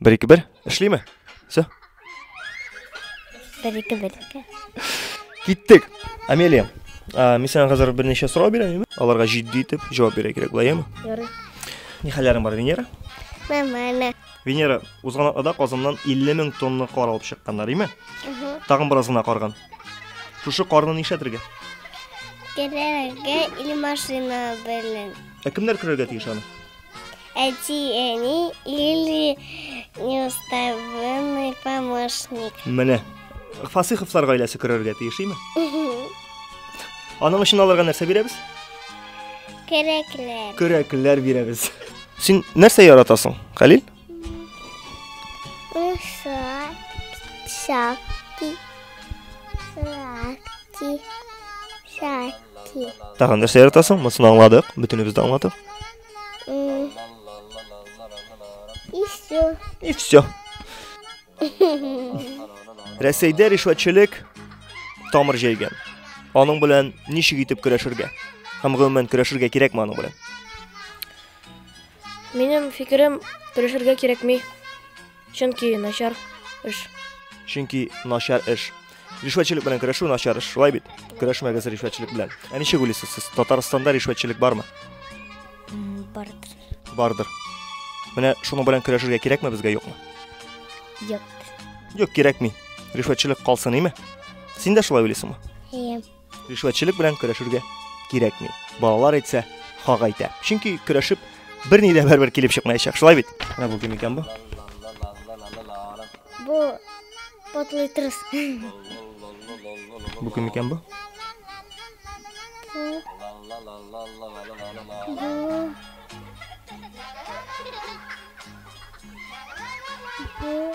Бер ике бер. Эшлиме? Все. Бер ике бер. Киттек. Амелия. А, мин сиңа хәзер берничә сорау бирәм, Аларга җитди итеп җавап бирә кирәк, булаймы? Ярый. Ни хәлләрең бар, Венера? Нормально. Венера, узган атнада Казаннан 50 мең тонна кар алып чыкканнар, име? Тагын бераз гына карган. Шушы карны нишләтергә? Керергә или машина белән. Ә кемнәр керергә тиеш аны? Әти, әни или неуставный помощник. Менә. Фасиховлар гаиләсе керергә тиеш, име? Аның өчен аларга нәрсә бирәбез? Көрәкләр. Көрәкләр бирәбез. Син нәрсә яратасың, Хәлил? Лошадь, шапки, шапки, шапки. Тагын нәрсә яратасың? Монысын аңладык, бөтенебез дә аңладык. И все. И все. Рәсәйдә ришвәтчелек тамыр җәйгән. Аның белән ничек итеп көрәшергә? Һәм гомумән көрәшергә кирәкме аның белән? Минем фикерем, көрәшергә кирәкми. Чөнки начар эш. Чөнки начар эш. Ришвәтчелек белән көрәшү начар эш, шулай бит? Көрәшмәгез ришвәтчелек белән. Ә ничек уйлыйсыз сез? Татарстанда ришвәтчелек бармы? Бардыр. Бардыр. Менә шуның белән көрәшергә кирәкме безгә юкмы? Юк. Юк, кирәкми. Ришвәтчелек калсын, име? Син дә шулай уйлыйсыңмы? Әйе. Ришвәтчелек белән көрәшергә кирәкми. Балалар әйтсә, хак әйтә. Чөнки көрәшеп берни дә бер килеп чыкмаячак. Шулай бит? Менә бу кем икән бу? Бу потлый трус. Бу кем икән бу? Бу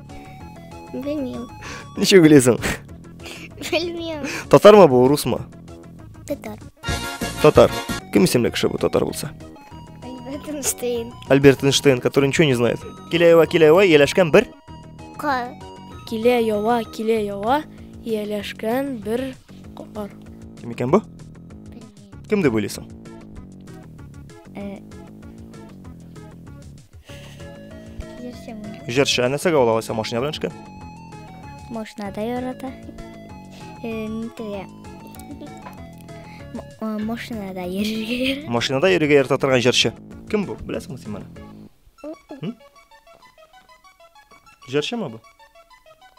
Белмим. Ничек белесең? Белмим. Татармы бу, урусмы? Татар. Татар. Кем исемле кеше бу татар булса? Альберт Эйнштейн. Альберт Эйнштейн, который ничего не знает. Киләева, киләева, еләшкән бер. Кар. Килә ява, килә ява, ияләшкән бер кар. Кем икән бу? Кем дип уйлыйсың? Э, Җырчы. Ә нәрсәгә ул алайса машина белән эшкә? Машинада ярата. Нитегә? Машинада йөрергә ярата. Машинада йөрергә ярата торган җырчы. Кем бу? Беләсеңме син моны? Җырчымы бу?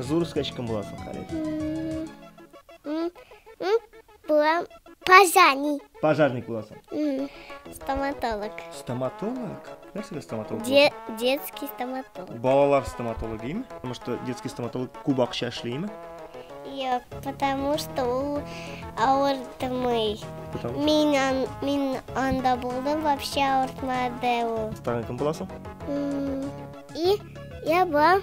Зур үскәч кем буласың, Халит? Булам пожарник. Пожарник буласың. Стоматолог. Стоматолог? Нәрсәгә стоматолог? Де детский стоматолог. Балалар стоматологимы? Потому что детский стоматолог күп акча эшлиме? Юк, потому что ул авыртмый. Мин, ан, мин анда булдым, вообще авыртмады ул. Тагын кем буласың? И я булам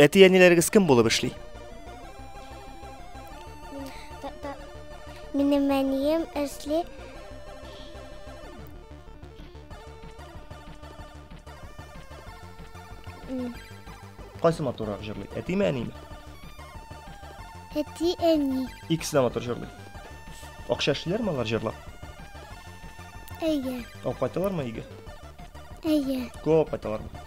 Әти-әниләрегез кем булып эшли? Минем әнием эшли Кайсы матуррак җырлый? Әтиме, әниме? Әти, әни. Икесе дә матур җырлый. Акча эшлиләрме алар җырлап? Әйе. Алып кайталармы өйгә? Әйе. Күп алып кайталармы?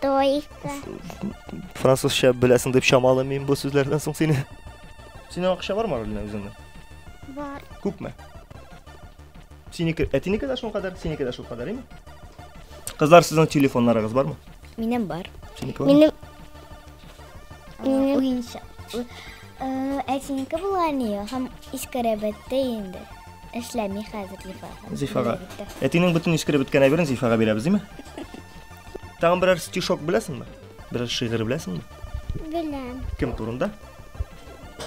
Тойка. Французча беләсең дип чамалыйм мин бу сүзләрдән соң сине. Синең акча бармы Рулина үзеңдә? Бар. Күпме? Синеке, әтинеке дә шул кадәр, синеке дә шул кадәр, име? Кызлар, сезнең телефоннарыгыз бармы? Минем бар. Синеке бармы? Минем Минем уенча. Әтинеке була ни, һәм искәрәбәттә инде. Эшләми хәзер Зифага. Зифага. Әтинең бөтен искәрәбәткән әйберен Зифага бирәбез, име? Тагын берәр стишок беләсеңме? Берәр шигырь беләсеңме? Беләм. Кем турында?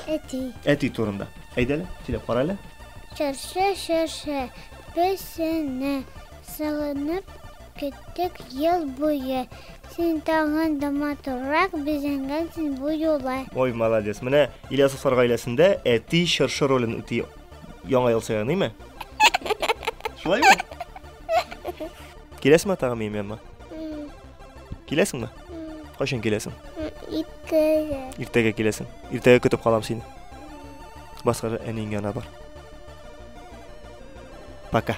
Әти. Әти турында. Әйдәле, сөйләп кара әле. Чыршы чыршы песене сагынып көттек ел буе. Син тагын да матуррак безенгәнсең бу юлы. Ой, молодец. Менә Ильясовлар гаиләсендә әти чыршы ролен үти. Яңа ел сәяныймы? Шулаймы? Киләсең ма тагы минем янма? Киләсең ма? Кайчан киләсең? Иртәгә. Иртәгә киләсең. Иртәгә көтеп калам сине. Баскара әниң янына бар. Пока.